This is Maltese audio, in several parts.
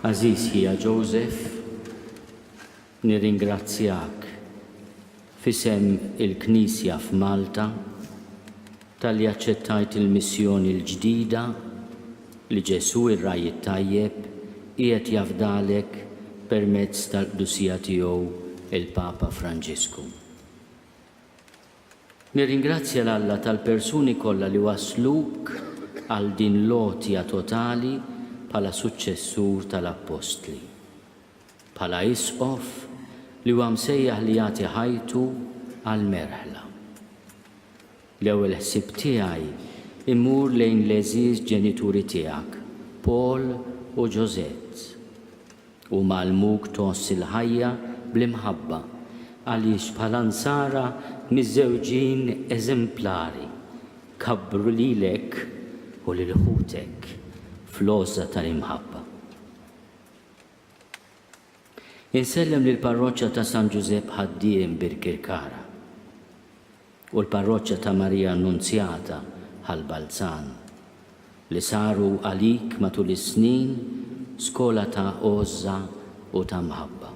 Għażiż ħija Joseph, nirringrazzjak f'isem il-Knisja f'Malta talli aċċettajt il-missjoni l-ġdida li Ġesù r-Ragħaj it-Tajjeb qiegħed jafdalek permezz tal-Qdusija Tiegħu l-Papa Franġisku. Nirringrazzja 'l Alla tal-persuni kollha li wassluk għal din l-għotja totali bħala suċċessur tal-Appostli. Bħala Isqof li huwa msejjaħ li jagħti ħajtu għall-merħla. L-ewwel ħsieb tiegħi jmur lejn l-għeżież ġenituri tiegħek, Paul u Josette. Hu magħlmuk tgħożż il-ħajja bl-imħabba, għaliex bħala Nsara miżżewġin eżemplari, kabbru lilek u lil ħutek fl-għożża tal-imħabba. Insellem lill-Parroċċa ta' San Ġużepp Ħaddiem Birkirkara. u l-Parroċċa ta' Marija Annunzjata Ħal Balzan, li saru għalik matul is-snin skola ta' għożża u ta' mħabba.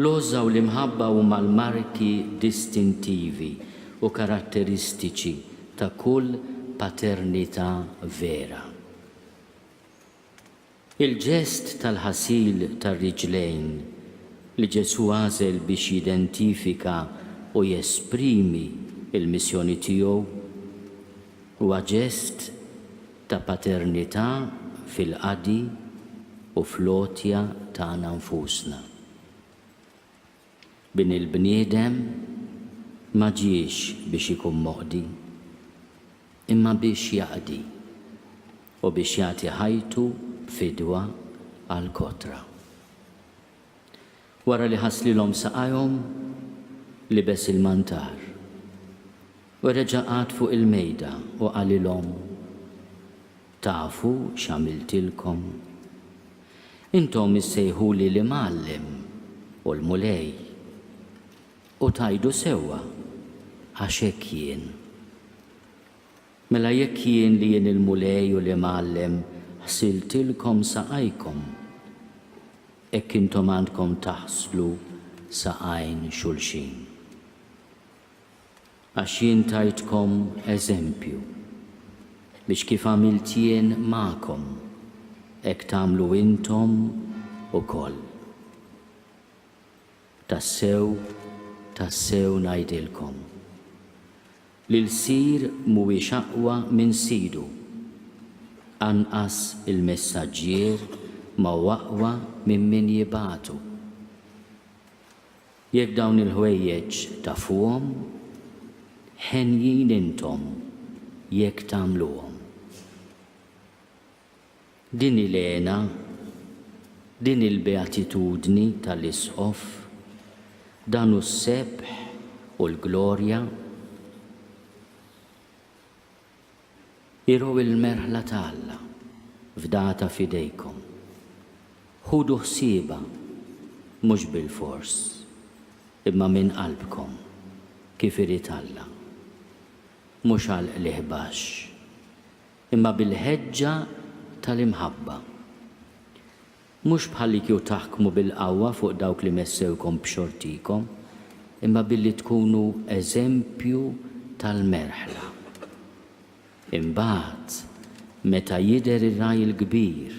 L-għożża u l-imħabba huma l-marki distintivi u karatteristiċi ta' kull paternità vera. Il-ġest tal-ħasil tar-riġlejn li Ġesù għażel biex jidentifika u jesprimi l-missjoni tiegħu huwa ġest ta' paternità fil-qadi u fl-għotja tagħna nfusna. Bin il-bniedem ma ġiex biex ikun moqdi, imma biex jaqdi, u biex jagħti ħajtu b'fidwa għall-kotra. Wara li ħasslilhom saqajhom, libes il-mantar, u reġa' qagħad fuq il-mejda u qalilhom, Tafu x'għamiltilkom? Intom issejħuli l-Imgħallem u l-Mulej, u tgħidu sewwa, għax hekk jien. Mela jekk jien li jien il-Mulej u l-Imgħallem ħsiltilkom saqajkom, hekk intom għandkom taħslu saqajn xulxin. Għax jien tajtkom eżempju, biex kif għamilt jien magħkom, hekk tagħmlu intom ukoll. Tassew, tassew ngħidilkom, li lsir mhuwiex aqwa minn sidu, anqas il-messaġġier ma hu aqwa minn min jibagħtu. Jekk dawn il-ħwejjeġ tafuhom, henjin intom jekk tagħmluhom. Din hi l-hena, din hi l-beatitudni tal-Isqof, dan hu s-sebħ u l-glorja. Iru l-merħla ta' Alla, fdata f'idejkom. Ħudu ħsiebha, mhux bilfors, imma minn qalbkom, kif irid Alla. Mhux għal qligħ baxx, imma bil-ħeġġa tal-imħabba. Mhux bħallikieku taħkmu bil-qawwa fuq dawk li messewkom b'xortikom, imma billi tkunu eżempju tal-merħla. Imbagħad, meta jidher ir-Ragħaj il-Kbir,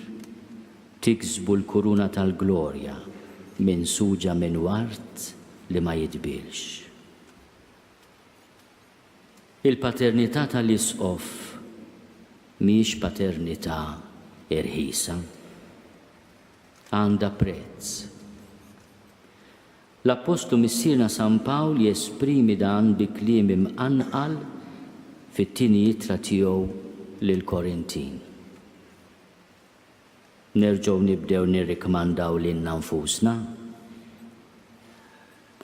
tiksbu l-kuruna tal-glorja minsuġa minn ward li ma jidbielx. Il-paternità tal-Isqof mhijiex paternità irħisa. Għandha prezz. L-Appostlu Missierna San Pawl jesprimi dan bi kliem imqanqal fit-tieni ittra tiegħu lill-Korintin. Nerġgħu nibdew nirrikmandaw lilna nfusna.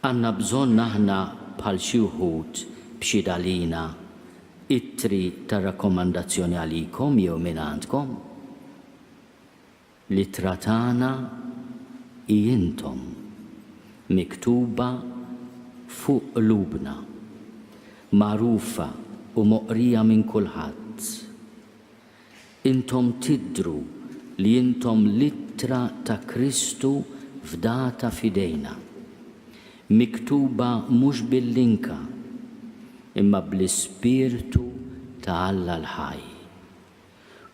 Għandna bżonn aħna bħal xi wħud b'xhied għalina ittri ta' rakkomandazzjoni għalikom jew mingħandkom? L-ittra tagħna hi intom, miktuba fuq qlubna, magħrufa u moqrija minn kulħadd. Intom tidhru li intom l-ittra ta' Kristu fdata f'idejna, miktuba mhux bil-linka, imma bl-Ispirtu ta' Alla l-ħaj.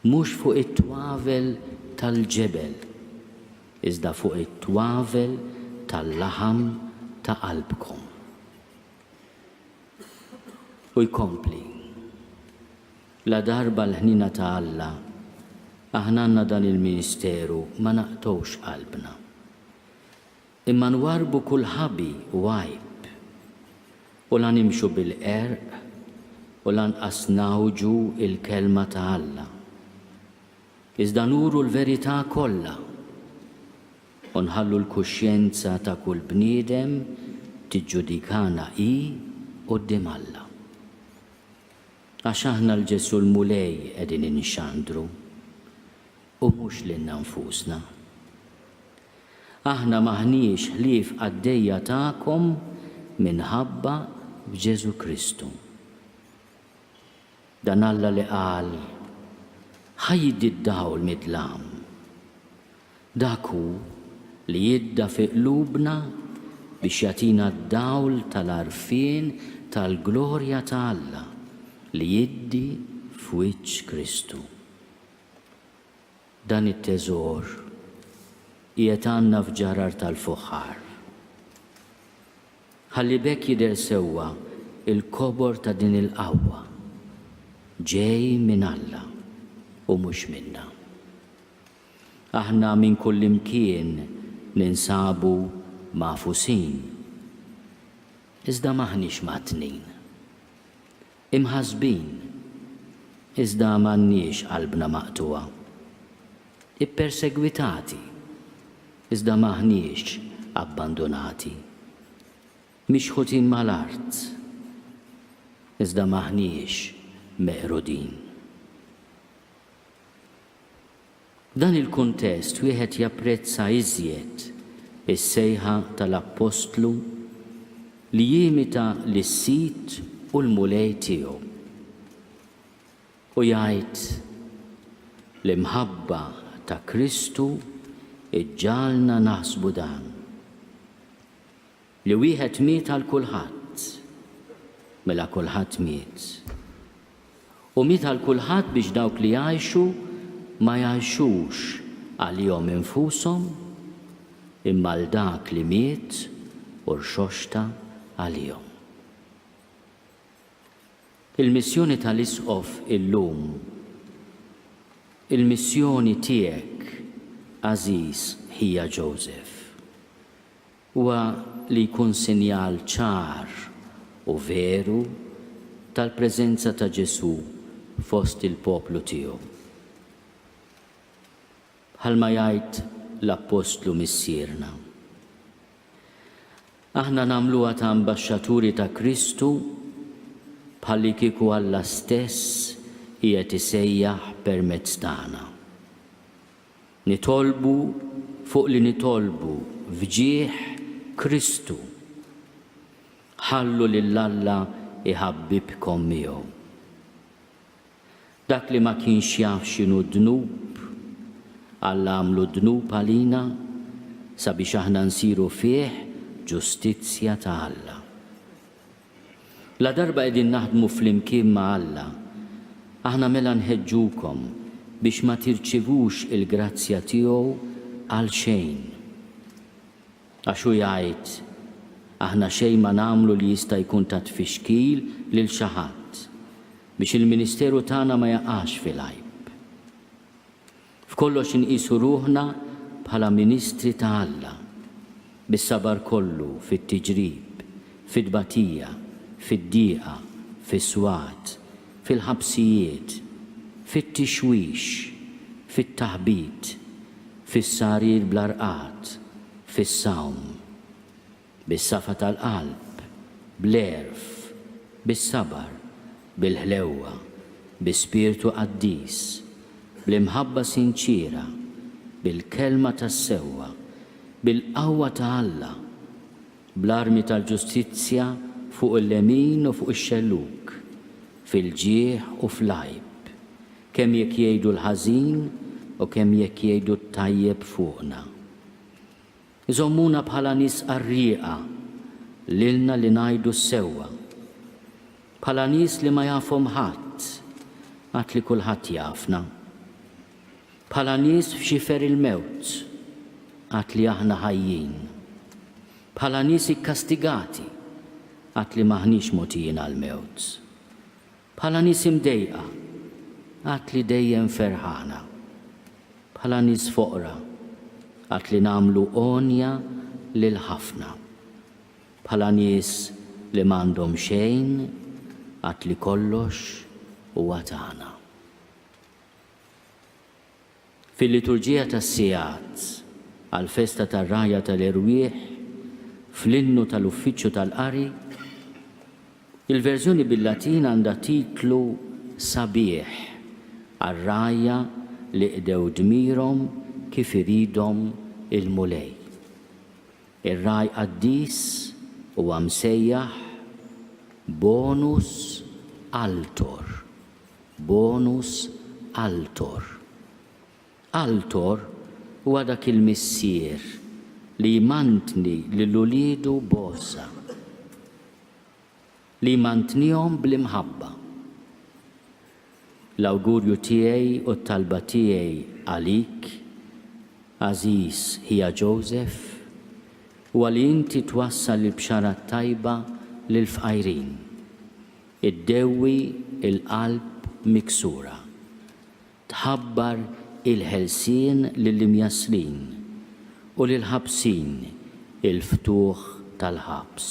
Mhux fuq it-twavel tal-ġebel, iżda fuq it-twavel tal-laħam ta' qalbkom. U jkompli. Ladarba l-ħniena ta' Alla aħna għandna dan il-ministeru ma naqtgħux qalbna. Imma nwarrbu kull ħabi u għajb. U la nimxu bil-qerq u lanqas ngħawġu l-kelma ta' Alla. Iżda nuru l-verità kollha u nħallu l-kuxjenza ta' kull bniedem tiġġudikana hi quddiem Alla. Għax aħna 'l Ġesù l-Mulej qegħdin inxandru, u mhux lilna nfusna. Aħna m'aħniex ħlief qaddejja tagħkom minħabba f'Ġesù Kristu. Dan Alla li qal, 'Ħa jiddi d-dawl mid-dlam, Dak hu li jidda fi qlubna biex jagħtina d-dawl tal-għarfien tal-glorja ta' Alla li jiddi f'wiċċ Kristu. Dan it-teżor qiegħed għandna f'ġarar tal-fuħħar. Ħalli b'hekk jidher sewwa l-kobor ta' din il-qawwa, ġej minn Alla u mhux minna. Aħna minn kullimkien ninsabu magħfusin, iżda m'aħniex mgħattnin. Imħassbin, iżda m'għandniex qalbna maqtugħa. Ippersegwitati, iżda m'aħniex abbandunati. Mixħutin mal-art, iżda m'aħniex meqrudin. F'dan il-kuntest wieħed japprezza iżjed is-sejħa tal-Appostlu li jimita lis-Sid u l-Mulej tiegħu u jgħid, L-imħabba ta' Kristu ġġagħalna naħsbu dan. Li wieħed miet għal kulħadd, mela kulħadd miet. U miet għal kulħadd biex dawk li jgħixu ma jgħixux għalihom infushom, imma għal dak li miet u rxoxta għalihom. Il-missjoni tal-Isqof illum, il-missjoni tiegħek, għażiż ħija Joseph, Huwa li jkun sinjal ċar u veru tal-preżenza ta' Ġesù fost il-poplu tiegħu. Bħalma jgħid l-appostlu Missierna, Aħna nagħmluha ta' ambaxxaturi ta' Kristu bħallikieku Alla stess qiegħed isejjaħ permezz tagħna. Nitolbu fuq li nitolbu f'ġieħ Kristu. Ħallu lil Alla jħabbibkom miegħu. Dak li ma kienx jaf x'inhu d-dnub, Alla għamlu dnub għalina sabiex aħna nsiru fih ġustizzja ta' Alla. Ladarba qegħdin naħdmu flimkien ma' Alla, aħna mela nħeġġukom biex ma tirċivux il-grazzja tiegħu għalxejn. Għax hu jgħid, Aħna xejn ma nagħmlu li jista' jkun ta' tfixkil lil xi ħadd, biex il-ministeru tagħna ma jaqax fil-għajb. F'kollox inqisu ruħna bħala ministri ta' Alla, bis-sabar kollu fit-tiġrib, fit-tbatija, fid-dieqa, fis-swat, fil-ħabsijiet, fit-tixwix, fit-taħbit, fis-sarir bla rqad, fis-sawm. Bis-safa tal-qalb, bl-għerf, bis-sabar, bil-ħlewwa, bi spirtu qaddis, bl-imħabba sinċiera, bil-kelma tas-sewwa, bil-qawwa ta' Alla, bl-armi tal-ġustizzja fuq il-lemin u fuq ix-xellug, fil-ġieħ u fl-għajb, kemm jekk jgħidu l-ħażin u kemm jekk jgħidu t-tajjeb fuqna. Iżommuna bħala nies qarrieqa lilna li ngħidu s-sewwa. Bħala nies li ma jafhom ħadd għad li kulħadd jafna. Bħala nies f'xifer il-mewt għad li aħna ħajjin. Bħala nies ikkastigati għad li m'aħniex mogħtijin għall-mewt. Bħala nies imdejqa, għad li dejjem ferħana. Bħala nies foqra, għad li nagħmlu għonja lil ħafna. Bħala nies li m'għandhom xejn, għad li kollox huwa tagħna. Fil-liturġija tas-sigħat għall-festa tar-Ragħajja tal-Erwieħ, fl-innu tal-Uffiċċju tal-Qari, il-verżjoni bil-Latin għandha titlu sabiħ għar-ragħajja li qdew dmirhom kif iridhom il-Mulej. Ir-ragħaj qaddis huwa msejjaħ bonus altor. Bonus Altor Altor huwa dak il-missier li jmantni lil uliedu b'għożża, li jmantnihom bl-imħabba. L-awgurju tiegħi u t-talba tiegħi għalik, għażiż ħija Joseph, huwa li inti twassal il-Bxara t-Tajba lill-fqajrin. Iddewwi l-qalb miksura. Tħabbar il-ħelsien lill-imjasslin, u lill-ħabsin il-ftuħ tal-ħabs.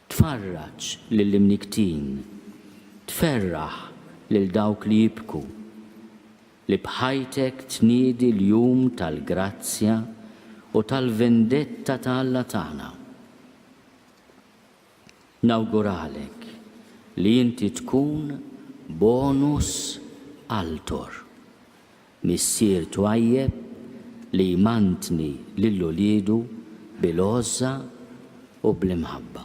Tfarraġ lill-imnikktin. Tferraħ lil dawk li jibku. Li b'ħajtek tniedi l-jum tal-grazzja u tal-vendetta ta' Alla tagħna. Nawguralek li inti tkun bonus altor, missier twajjeb li jmantni lil uliedu bil-għożża u bl-imħabba.